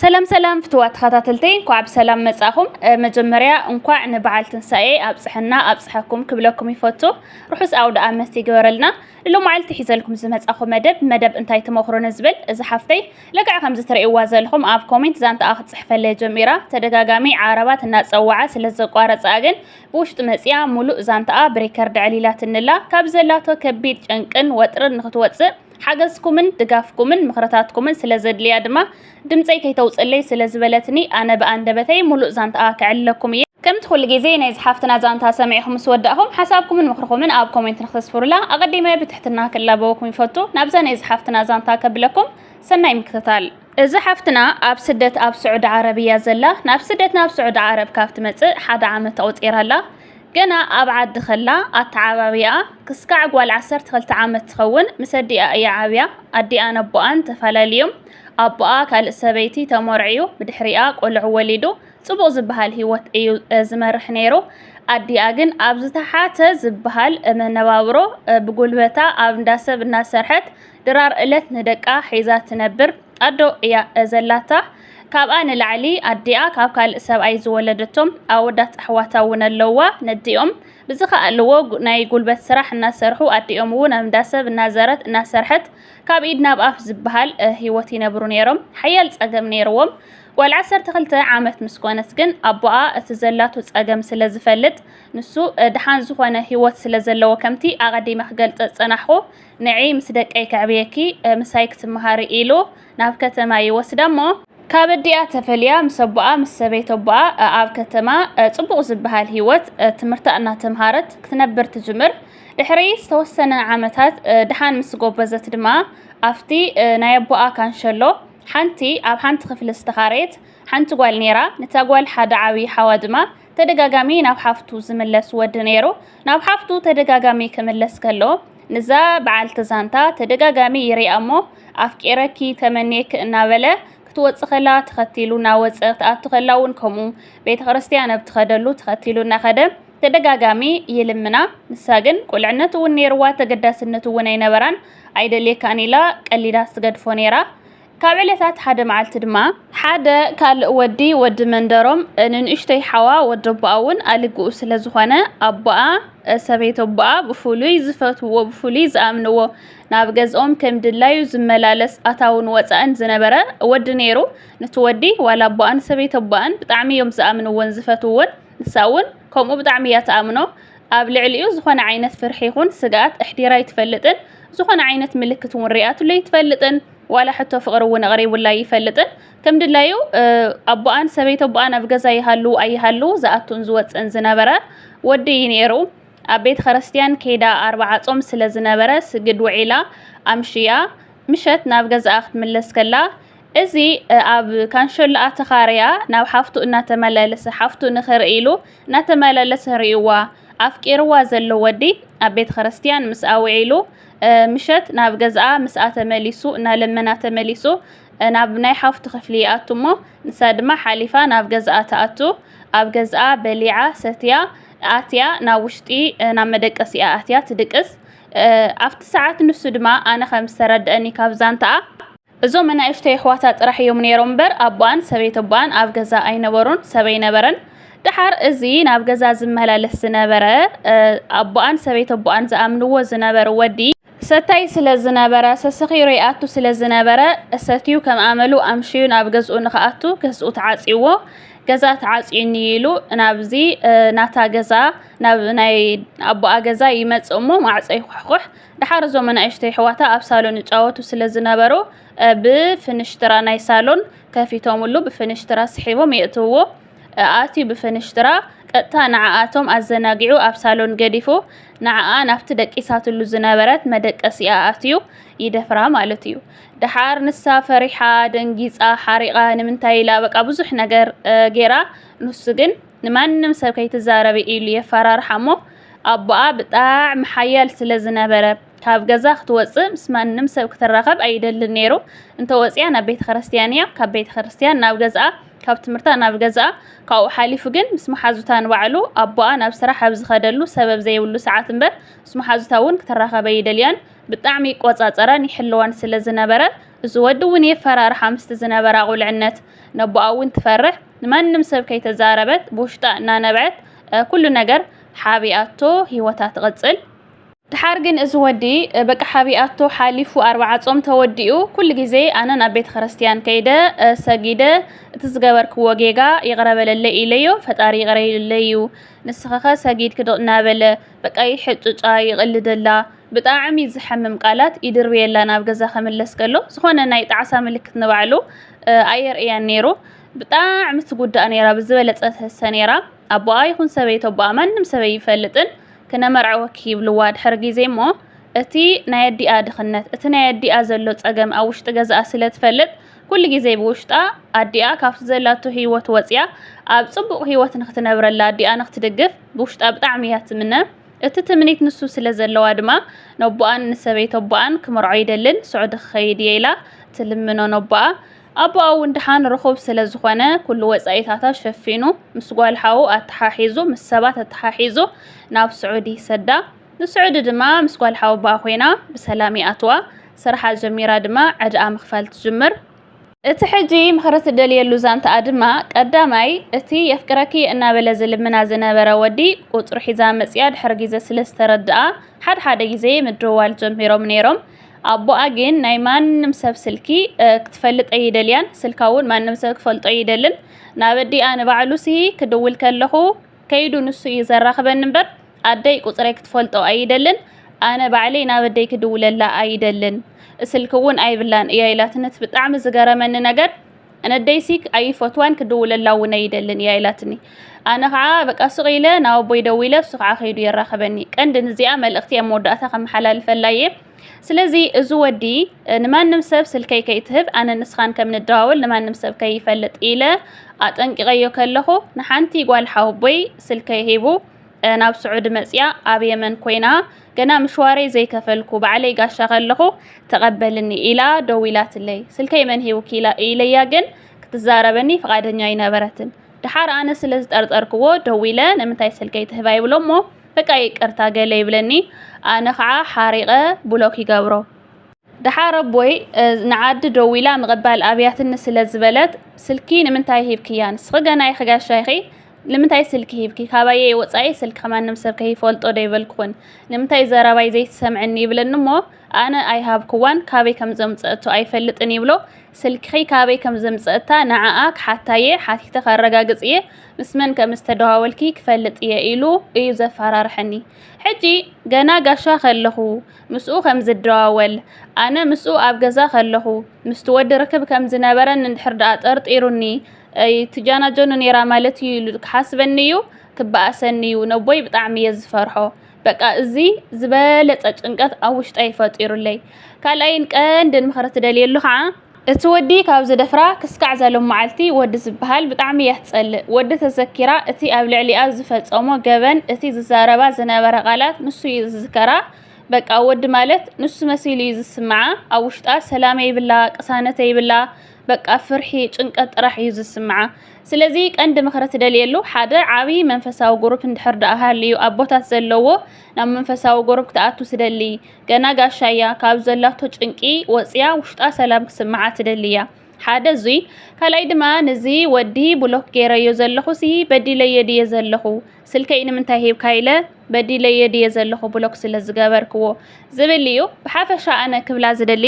ሰላም ሰላም ፍትዋት ተኸታተልተይ እንኳዕ ብሰላም መጻኹም። መጀመርያ እንኳዕ ንበዓል ትንሳኤ ኣብጽሐና ኣብጽሐኩም ክብለኩም ይፈቱ። ርሑስ ኣውደ ኣመት ይግበረልና። ንሎማዓልቲ ሒዘልኩም ዝመጻኹ መደብ መደብ እንታይ ተመክሮ ንዝብል እዚ ሓፍተይ ልክዕ ከምዚ ትርእይዋ ዘለኹም ኣብ ኮሜንት ዛንታኣ ክትጽሕፈለይ ጀሚራ ተደጋጋሚ ዓረባት እናጸዋዓ ስለ ዘቋረጻ ግን ብውሽጢ መጽያ ሙሉእ ዛንታኣ ብሪከርድ ዕሊላትንላ ካብ ዘላቶ ከቢድ ጨንቅን ወጥርን ንክትወጽእ ሓገዝኩምን ድጋፍኩምን ምኽርታትኩምን ስለ ዘድልያ ድማ ድምጸይ ከይተውጽለይ ስለ ዝበለትኒ ኣነ ብኣንደበተይ ሙሉእ ዛንትኣ ከዕልለኩም እየ። ከምቲ ኩሉ ግዜ ናይዛ ሓፍትና ዛንታ ሰሚዕኹም ምስ ወዳእኹም ሓሳብኩምን ምኽርኹምን ኣብ ኮሜንት ንክተስፍሩላ ኣቐዲመ ብትሕትና ክላበወኩም ይፈቱ። ናብዛ ናይዛ ሓፍትና ዛንታ ከብለኩም ሰናይ ምክትታል። እዛ ሓፍትና ኣብ ስደት ኣብ ስዑዲ ዓረብ እያ ዘላ። ናብ ስደት ናብ ስዑዲ ዓረብ ካብ ትመጽእ ሓደ ዓመት ኣቑጺራ ኣላ። ገና ኣብ ዓዲ ከላ ኣተዓባብያኣ ክስካዕ ጓል ዓሰርተ ክልተ ዓመት ትኸውን ምስ ኣዲኣ እያ ዓብያ። ኣዲኣን ኣቦኣን ተፈላልዮም ኣቦኣ ካልእ ሰበይቲ ተመርዕዩ ብድሕሪኣ ቆልዑ ወሊዱ ጽቡቕ ዝበሃል ህይወት እዩ ዝመርሕ ነይሩ። ኣዲኣ ግን ኣብ ዝተሓተ ዝበሃል መነባብሮ ብጉልበታ ኣብ እንዳሰብ እናሰርሐት ድራር እለት ንደቃ ሒዛ ትነብር ኣዶ እያ ዘላታ ካብኣ ንላዕሊ ኣዲኣ ካብ ካልእ ሰብኣይ ዝወለደቶም ኣወዳት ኣሕዋታ እውን ኣለዋ ነዲኦም ብዝኸኣልዎ ናይ ጉልበት ስራሕ እናሰርሑ ኣዲኦም እውን ኣብ እንዳሰብ እናዘረት እናሰርሐት ካብ ኢድ ናብ ኣፍ ዝበሃል ሂወት ይነብሩ ነይሮም ሓያል ፀገም ነይርዎም ጓል ዓሰርተ ክልተ ዓመት ምስ ኮነት ግን ኣቦኣ እቲ ዘላቱ ጸገም ስለ ዝፈልጥ ንሱ ድሓን ዝኾነ ህይወት ስለ ዘለዎ ከምቲ ኣቐዲመ ክገልጸ ዝጸናሕኹ ንዒ ምስ ደቀይ ከዕብየኪ ምሳይ ክትመሃሪ ኢሉ ናብ ከተማ ይወስዳ እሞ፣ ካብ ኣዲኣ ተፈልያ ምስ ኣቦኣ ምስ ሰበይት ኣቦኣ ኣብ ከተማ ጽቡቕ ዝበሃል ህይወት ትምህርታ እናተምሃረት ክትነብር ትጅምር። ድሕሪ ዝተወሰነ ዓመታት ድሓን ምስ ጎበዘት ድማ ኣብቲ ናይ ኣቦኣ ካንሸሎ ሓንቲ ኣብ ሓንቲ ክፍሊ ዝተኻረየት ሓንቲ ጓል ነይራ፣ ነታ ጓል ሓደ ዓብዪ ሓዋ ድማ ተደጋጋሚ ናብ ሓፍቱ ዝምለስ ወዲ ነይሩ። ናብ ሓፍቱ ተደጋጋሚ ክምለስ ከሎ ንዛ በዓልቲ ዛንታ ተደጋጋሚ ይሪኣ እሞ ኣፍቂረኪ ተመንየኪ እናበለ ክትወፅ ከላ ተኸቲሉ እናወፀ ክትኣቱ ከላ እውን ከምኡ ቤተ ክርስቲያን ኣብ ትኸደሉ ተኸቲሉ እናኸደ ተደጋጋሚ ይልምና። ንሳ ግን ቁልዕነት እውን ነይርዋ ተገዳስነት እውን ኣይነበራን ኣይደልየካን ኢላ ቀሊዳ ትገድፎ ነይራ። ካብ ዕለታት ሓደ መዓልቲ ድማ ሓደ ካልእ ወዲ ወዲ መንደሮም ንንእሽተይ ሓዋ ወዲ ኣቦኣ እውን ኣልግኡ ስለ ዝኾነ ኣቦኣ ሰበይት ኣቦኣ ብፍሉይ ዝፈትውዎ ብፍሉይ ዝኣምንዎ ናብ ገዝኦም ከም ድላዩ ዝመላለስ ኣታውን ወፃእን ዝነበረ ወዲ ነይሩ ነቲ ወዲ ዋላ ኣቦኣን ሰበይት ኣቦኣን ብጣዕሚ እዮም ዝኣምንዎን ዝፈትውዎን ንሳ እውን ከምኡ ብጣዕሚ እያ ትኣምኖ ኣብ ልዕሊኡ ዝኾነ ዓይነት ፍርሒ ይኹን ስግኣት ኣሕዲራ ኣይትፈልጥን ዝኾነ ዓይነት ምልክት እውን ሪኣትሉ ኣይትፈልጥን ዋላ ሕቶ ፍቕሪ እውን ኣቕሪቡላ ኣይፈልጥን። ከም ድላዩ ኣቦኣን ሰበይት ኣቦኣን ኣብ ገዛ ይሃሉ ኣይሃሉ ዝኣቱን ዝወፅእን ዝነበረ ወዲ እዩ ነይሩ። ኣብ ቤተ ክርስቲያን ከይዳ ኣርባዓ ጾም ስለ ዝነበረ ስግድ ውዒላ ኣምሽያ ምሸት ናብ ገዛኣ ክትምለስ ከላ እዚ ኣብ ካንሸሎኣ ተኻርያ ናብ ሓፍቱ እናተመላለሰ ሓፍቱ ንኽርኢ ኢሉ እናተመላለሰ ርእይዋ ኣፍቂርዋ ዘሎ ወዲ ኣብ ቤተ ክርስቲያን ምስኣ ውዒሉ ምሸት ናብ ገዝኣ ምስኣ ተመሊሱ እናለመና ተመሊሱ ናብ ናይ ሓፍቱ ክፍሊ ይኣቱ እሞ ንሳ ድማ ሓሊፋ ናብ ገዝኣ ትኣቱ ኣብ ገዝኣ በሊዓ ሰትያ ኣትያ ናብ ውሽጢ ናብ መደቀሲኣ ኣትያ ትድቅስ ኣብቲ ሰዓት ንሱ ድማ ኣነ ከም ዝተረድአኒ ካብ ዛንታኣ እዞም ኣናእሽተይ ኣሕዋታ ጥራሕ እዮም ነይሮም እምበር ኣቦኣን ሰበይቲ ኣቦኣን ኣብ ገዛ ኣይነበሩን፣ ሰብ ኣይነበረን። ደሓር እዚ ናብ ገዛ ዝመላለስ ዝነበረ ኣቦኣን ሰበይቲ ኣቦኣን ዝኣምንዎ ዝነበሩ ወዲ ሰታይ ስለ ዝነበረ ሰሰኺሩ ይኣቱ ስለ ዝነበረ እሰትዩ ከም ኣመሉ ኣምሽዩ ናብ ገዝኡ ንክኣቱ ገዝኡ ተዓፅይዎ ገዛ ተዓፅዩኒ ኢሉ ናብዚ ናታ ገዛ ናብ ናይ ኣቦኣ ገዛ ይመፅእ እሞ ማዕፆ ይኹሕኩሕ ደሓር እዞም ኣናእሽቱ የሕዋታ ኣብ ሳሎን ይጻወቱ ስለ ዝነበሩ ብፍንሽትራ ናይ ሳሎን ከፊቶምሉ ብፍንሽትራ ስሒቦም የእትውዎ። ኣእትዩ ብፍንሽትራ ቀጥታ ንዓኣቶም ኣዘናጊዑ ኣብ ሳሎን ገዲፉ ንዓኣ ናብቲ ደቂሳትሉ ዝነበረት መደቀሲኣ ኣእትዩ ይደፍራ ማለት እዩ። ደሓር ንሳ ፈሪሓ ደንጊጻ ሓሪቓ ንምንታይ ኢላ በቃ ብዙሕ ነገር ጌራ ንሱ ግን ንማንም ሰብ ከይትዛረቢ ኢሉ የፈራርሓ እሞ ኣቦኣ ብጣዕሚ ሓያል ስለ ዝነበረ፣ ካብ ገዛ ክትወጽእ ምስ ማንም ሰብ ክትራኸብ ኣይደልን ነይሩ። እንተ ወጺኣ ናብ ቤተ ክርስትያን እያ፣ ካብ ቤተ ክርስትያን ናብ ገዝኣ፣ ካብ ትምህርታ ናብ ገዝኣ። ካብኡ ሓሊፉ ግን ምስ መሓዙታ ንባዕሉ ኣቦኣ ናብ ስራሕ ኣብ ዝኸደሉ ሰበብ ዘይብሉ ሰዓት እምበር ምስ መሓዙታ እውን ክትራኸብ ኣይደልያን። ብጣዕሚ ይቆጻጸራን ይሕልዋን ስለ ዝነበረ እዚ ወዲ እውን የፈራርሓ ምስቲ ዝነበራ ቁልዕነት ነቦኣ እውን ትፈርሕ ንማንም ሰብ ከይተዛረበት ብውሽጣ እናነብዐት ኩሉ ነገር ሓቢኣቶ ሂወታ ትቕጽል ድሓር ግን እዚ ወዲ በቃ ሓቢኣቶ ሓሊፉ ኣርባዓ ጾም ተወዲኡ ኩሉ ግዜ ኣነ ናብ ቤተ ክርስትያን ከይደ ሰጊደ እቲ ዝገበርክዎ ጌጋ ይቕረ በለለይ ኢለዮ ፈጣሪ ይቕረ ኢለዩ ንስኸኸ ሰጊድክ እናበለ በቃ ይሕጭጫ ይቕልደላ ብጣዕሚ ዝሐምም ቃላት ኢድርብየላ ናብ ገዛ ክምለስ ከሎ ዝኮነ ናይ ጣዕሳ ምልክት ንባዕሉ ኣየርእያን ነይሩ ብጣዕሚ ትጉዳእ ነይራ ብዝበለጸ ትህሰ ነይራ ኣቦኣ ይኹን ሰበይቶ ኣቦኣ ማንም ሰበይ ይፈልጥን ክነመርዐወኪ ይብልዋ ድሕሪ ግዜ እሞ እቲ ናይ ኣዲኣ ድኽነት እቲ ናይ ኣዲኣ ዘሎ ጸገም ኣብ ውሽጢ ገዛኣ ስለ ትፈልጥ ኩሉ ግዜ ብውሽጣ ኣዲኣ ካብቲ ዘላቶ ህይወት ወጽያ ኣብ ጽቡቕ ህይወት ንክትነብረላ ኣዲኣ ንክትድግፍ ብውሽጣ ብጣዕሚ እያ ትምነ እቲ ትምኒት ንሱ ስለ ዘለዋ ድማ፣ ነቦኣን ንሰበይቲ ኣቦኣን ክምርዖ ይደልን ስዑዲ ክኸይድ እየ ኢላ ትልምኖ ነቦኣ። ኣቦኣ እውን ድሓን ርኹብ ስለ ዝኾነ፣ ኩሉ ወጻኢታታ ሸፊኑ፣ ምስ ጓል ሓዉ ኣተሓሒዙ፣ ምስ ሰባት ኣተሓሒዙ ናብ ስዑዲ ይሰዳ። ንስዑዲ ድማ ምስ ጓል ሓወቦኣ ኮይና ብሰላም ይኣትዋ። ስራሓ ጀሚራ ድማ ዕዳኣ ምኽፋል ትጅምር። እቲ ሕጂ ምኽሪ ትደልየሉ ዛንታኣ ድማ ቀዳማይ እቲ የፍቅረኪ እናበለ ዝልምና ዝነበረ ወዲ ቁጽሩ ሒዛ መጺኣ ድሕሪ ግዜ ስለ ዝተረድኣ ሓድሓደ ግዜ ምድውዋል ጀሚሮም ነይሮም። ኣቦኣ ግን ናይ ማንም ሰብ ስልኪ ክትፈልጥ ኣይደልያን፣ ስልካ እውን ማንም ሰብ ክፈልጦ ኣይደልን። ናብ ኣዲኣ ንባዕሉሲ ክድውል ከለኹ ከይዱ ንሱ እዩ ዘራኽበኒ እምበር ኣደይ ቁፅረይ ክትፈልጦ ኣይደልን ኣነ ባዕለይ ናብ ኣደይ ክድውለላ ኣይደልን ስልኪ እውን ኣይብላን እያ ኢላትኒ እቲ ብጣዕሚ ዝገረመኒ ነገር ነደይሲ ኣይፈትዋን ክድውለላ እውን ኣይደልን እያ ኢላትኒ ኣነ ከዓ በቃ ስቕ ኢለ ናብ ኣቦይ ደዊለ እሱ ከዓ ከይዱ የራኸበኒ ቀንዲ ንዚኣ መልእኽቲ ኣብ መወዳእታ ከመሓላልፈላ እየ ስለዚ እዚ ወዲ ንማንም ሰብ ስልከይ ከይትህብ ኣነ ንስኻን ከም ንደዋወል ንማንም ሰብ ከይፈልጥ ኢለ ኣጠንቂቐዮ ከለኹ ንሓንቲ ጓል ሓወቦይ ስልከይ ሂቡ ናብ ስዑዲ መጽያ ኣብ የመን ኮይና ገና ምሽዋረይ ዘይከፈልኩ ባዕለይ ጋሻ ከለኹ ተቐበልኒ ኢላ ደዊላትለይ። ስልከይ መን ሂቡኪ ኢለያ ግን ክትዛረበኒ ፍቓደኛ ኣይነበረትን። ድሓር ኣነ ስለ ዝጠርጠርክዎ ደዊለ ንምንታይ ስልከይ ትህባ ይብሎሞ በቃ ይቅርታ ገለ ይብለኒ ኣነ ከዓ ሓሪቐ ብሎክ ይገብሮ። ድሓር ኣቦይ ንዓዲ ደዊላ ምቕባል ኣብያትኒ ስለ ዝበለት ስልኪ ንምንታይ ሂብክያ ንስኺ ገና ኢኺ ጋሻ ኢኺ ንምንታይ ስልኪ ሂብኪ ካባየይ ወጻኢ ስልኪ ከማንም ሰብ ከይፈልጦ ዶ ኣይበልኩክን ንምንታይ ዘረባይ ዘይትሰምዕኒ ይብለኒ እሞ ኣነ ኣይሃብኩዋን ካበይ ከም ዘምጸእቶ ኣይፈልጥን ይብሎ ስልኪኺ ካበይ ከም ዘምጸእታ ንዓኣ ክሓታየ ሓቲተ ከረጋግጽ እየ ምስ መን ከም ዝተደዋወልኪ ክፈልጥ እየ ኢሉ እዩ ዘፈራርሐኒ ሕጂ ገና ጋሻ ከለኹ ምስኡ ከም ዝደዋወል ኣነ ምስኡ ኣብ ገዛ ከለኹ ምስቲ ወዲ ርክብ ከም ዝነበረን እንድሕር ደኣ ጠርጢሩኒ ኣይ ትጃናጀኑ ኔራ ማለት እዩ ኢሉ ክሓስበኒ እዩ ክበኣሰኒ እዩ ነቦይ ብጣዕሚ እየ ዝፈርሖ በቃ እዚ ዝበለፀ ጭንቀት ኣብ ውሽጠይ ፈጢሩለይ ካልኣይን ቀንድን ምኽሪ ትደልየሉ ከዓ እቲ ወዲ ካብ ዝደፍራ ክስካዕ ዘሎም መዓልቲ ወዲ ዝበሃል ብጣዕሚ እያ ትጸልእ ወዲ ተዘኪራ እቲ ኣብ ልዕሊኣ ዝፈጸሞ ገበን እቲ ዝዛረባ ዝነበረ ቃላት ንሱ እዩ ዝዝከራ በቃ ወዲ ማለት ንሱ መሲሉ እዩ ዝስምዓ ኣብ ውሽጣ ሰላም የብላ ቅሳነት የብላ በቃ ፍርሒ፣ ጭንቀት ጥራሕ እዩ ዝስምዓ። ስለዚ ቀንዲ ምኽሪ ትደልየሉ ሓደ ዓቢ መንፈሳዊ ጉሩፕ እንድሕር ደኣ ሃልዩ ኣቦታት ዘለዎ ናብ መንፈሳዊ ጉሩፕ ክትኣቱ ትደሊ ገና ጋሻ እያ ካብ ዘላቶ ጭንቂ ወጽያ ውሽጣ ሰላም ክስምዓ ትደሊ እያ። ሓደ እዙይ ካልኣይ ድማ ንዚ ወዲ ብሎክ ገይረዮ ዘለኹ ሲ በዲለዮ ድየ ዘለኹ ስልከይ ንምንታይ ሂብካ ኢለ በዲለዮ ድየ ዘለኹ ብሎክ ስለ ዝገበርክዎ ዝብል እዩ ብሓፈሻ ኣነ ክብላ ዝደሊ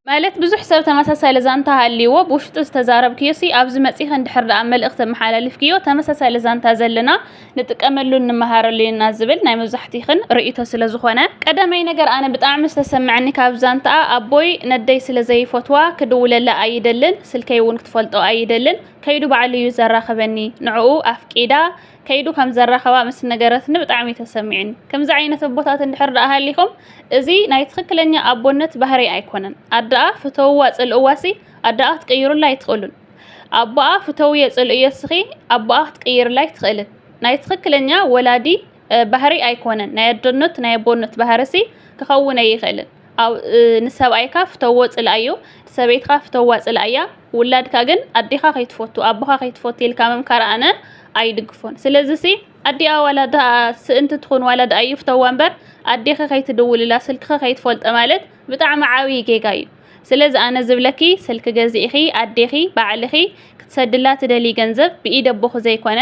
ማለት ብዙሕ ሰብ ተመሳሳሊ ዛንታ ሃልይዎ ብውሽጢ ዝተዛረብክዮሲ ኣብዚ መጺኺ እንድሕር ደኣ መልእኽቲ ኣመሓላሊፍክዮ ተመሳሳሊ ዛንታ ዘለና ንጥቀመሉን ንመሃረሉን ኢና ዝብል ናይ መብዛሕቲኽን ርእይቶ ስለ ዝኾነ ቀዳማይ ነገር ኣነ ብጣዕሚ ዝተሰመዐኒ ካብ ዛንታኣ ኣቦይ ነደይ ስለ ዘይፈትዋ ክድውለላ ኣይደልን ስልከይ እውን ክትፈልጦ ኣይደልን ከይዱ ባዕሉ እዩ ዘራኽበኒ ንዕኡ ኣፍቂዳ ከይዱ ከም ዘራኸባ ምስ ነገረትኒ ብጣዕሚ ተሰሚዕኒ። ከምዚ ዓይነት ኣቦታት እንድሕር ደኣ ሃሊኹም እዚ ናይ ትኽክለኛ ኣቦነት ባህሪ ኣይኮነን። ኣደኣ ፍተውዋ ጽልእዋሲ ኣደኣ ክትቅይሩላ ኣይትኽእሉን። ኣቦኣ ፍተውዮ ጽልእዮ እስኺ ኣቦኣ ክትቅይርላ ኣይትኽእልን። ናይ ትኽክለኛ ወላዲ ባህሪ ኣይኮነን። ናይ ኣደነት ናይ ኣቦነት ባህሪሲ ክኸውን ኣይኽእልን። ንሰብኣይካ ፍተዎ ጽልኣዮ ሰበይትካ ፍተዋ ጽልኣያ ውላድካ ግን ኣዴካ ከይትፈቱ ኣቦካ ከይትፈቱ ኢልካ ምምካር ኣነ ኣይድግፎን ስለዚ ሲ ኣዲኣ ዋላ ድኣ ስእንቲ ትኹን ዋላ ድኣ ይፍተዋ እምበር ኣዴኺ ከይትድውልላ ስልክኺ ከይትፈልጦ ማለት ብጣዕሚ ዓብዪ ጌጋ እዩ ስለዚ ኣነ ዝብለኪ ስልኪ ገዚእኺ ኣዴኺ ባዕልኺ ክትሰድላ ትደልዪ ገንዘብ ብኢድ ኣቦኺ ዘይኮነ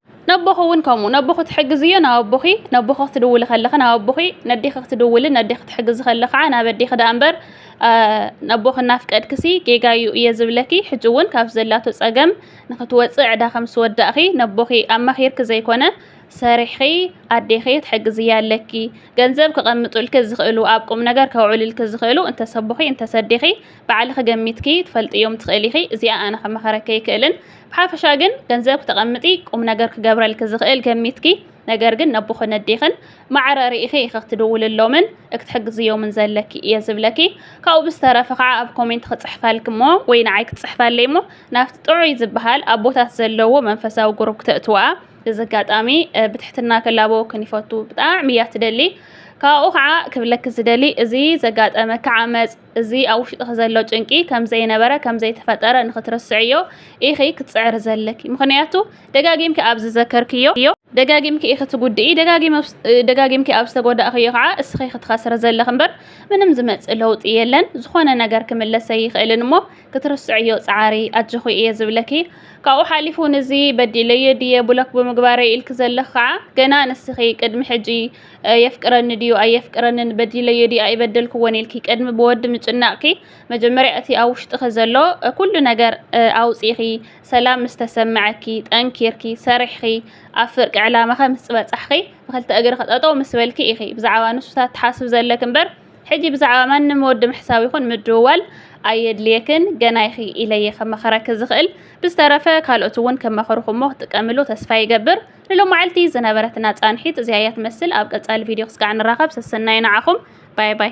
ነቦኺ እውን ከምኡ፣ ነቦኺ ትሕግዝዮ ናብ ኣቦኺ፣ ነቦኺ ክትድውሊ ከለኺ ናብ ኣቦኺ፣ ነዴኺ ክትድውሊ ነዴኺ ክትሕግዚ ከሎ ከዓ ናብ ኣዴኺ ደኣ እምበር ነቦኺ እናፍቀድክሲ ጌጋ እዩ እየ ዝብለኪ። ሕጂ እውን ካብቲ ዘላቶ ጸገም ንክትወጽእ ዕዳ ከም ዝወዳእኺ ነቦኺ ኣማኺርኪ ዘይኮነ ሰሪሕኺ ኣዴኺ ትሕግዝያ ኣለኪ። ገንዘብ ክቐምጡልኪ ዝኽእሉ ኣብ ቁምነገር ከውዕሉልኪ ዝኽእሉ እንተስ ኣቦኺ እንተስ ኣዴኺ ባዕልኺ ገሚትኪ ትፈልጥዮም ትኽእሊ ኢኺ እዚኣ ኣነ ክመኸረኪ ኣይክእልን ብሓፈሻ ግን ገንዘብ ክተቐምጢ ቁም ነገር ክገብረልኪ ዝኽእል ገሚትኪ ነገር ግን ነቦኽን ነዴኽን ማዕረ ርኢኺ ኢኺ ክትድውልሎምን እክትሕግዝዮምን ዘለኪ እየ ዝብለኪ ካብኡ ብዝተረፈ ከዓ ኣብ ኮሜንት ክፅሕፈልኪ እሞ ወይ ንዓይ ክትፅሕፈለይ እሞ ናብቲ ጥዑይ ዝበሃል ኣቦታት ዘለዎ መንፈሳዊ ጉሩብ ክተእትዋ እዚ ኣጋጣሚ ብትሕትና ክላበወክን ይፈቱ ብጣዕሚ እያ ትደሊ ካብኡ ከዓ ክብለኪ ዝደሊ እዚ ዘጋጠመኪ ዓመፅ እዚ ኣብ ውሽጥኺ ዘሎ ጭንቂ ከም ዘይነበረ ከም ዘይተፈጠረ ንኽትርስዕዮ ኢኺ ክትጽዕሪ ዘለኪ። ምኽንያቱ ደጋጊምኪ ኣብ ዝዘከርክዮ ደጋጊምኪ ኢኺ ትጉድኢ፣ ደጋጊምኪ ኣብ ዝተጎዳእክዮ ከዓ እስኺ ክትኸስሪ ዘለኺ እምበር ምንም ዝመጽእ ለውጢ የለን። ዝኾነ ነገር ክምለስ ኣይኽእልን እሞ ክትርስዕዮ ጸዓሪ ኣጆኺ እየ ዝብለኪ። ካብኡ ሓሊፉ ንዚ በዲለዮ ድየ ብሎክ ብምግባረይ ኢልኪ ዘለኺ ከዓ ገና ንስኺ ቅድሚ ሕጂ የፍቅረኒ ድዩ ኣየፍቅረንን በዲለዮ ድዩ ኣይበደልክዎን ኢልኪ ቅድሚ ብወዲ ምጭናቕኪ መጀመርያ እቲ ኣብ ውሽጥኺ ዘሎ ኩሉ ነገር ኣውፂኺ ሰላም ምስ ተሰምዐኪ ጠንኪርኪ ሰሪሕኺ ኣብ ፍርቂ ዕላማኸ ምስ ፅበፃሕኺ ብክልተ እግርኺ ጠጠው ምስ በልኪ ኢኺ ብዛዕባ ንሱታት ትሓስብ ዘለኪ እምበር ሕጂ ብዛዕባ ማንም ወዲ ምሕሳብ ይኹን ምድውዋል ኣየድልየክን ገና ኢኺ ኢለየ ከመኸረኪ ዝኽእል ብዝተረፈ ካልኦት እውን ከመኸርኹሞ ክትጥቀምሉ ተስፋ ይገብር ንሎማዕልቲ ዝነበረትና ፃንሒት እዚኣ እያ ትመስል ኣብ ቀፃሊ ቪድዮ ክስጋዕ ንራኸብ ሰሰናዩ ንዓኹም ባይ ባይ።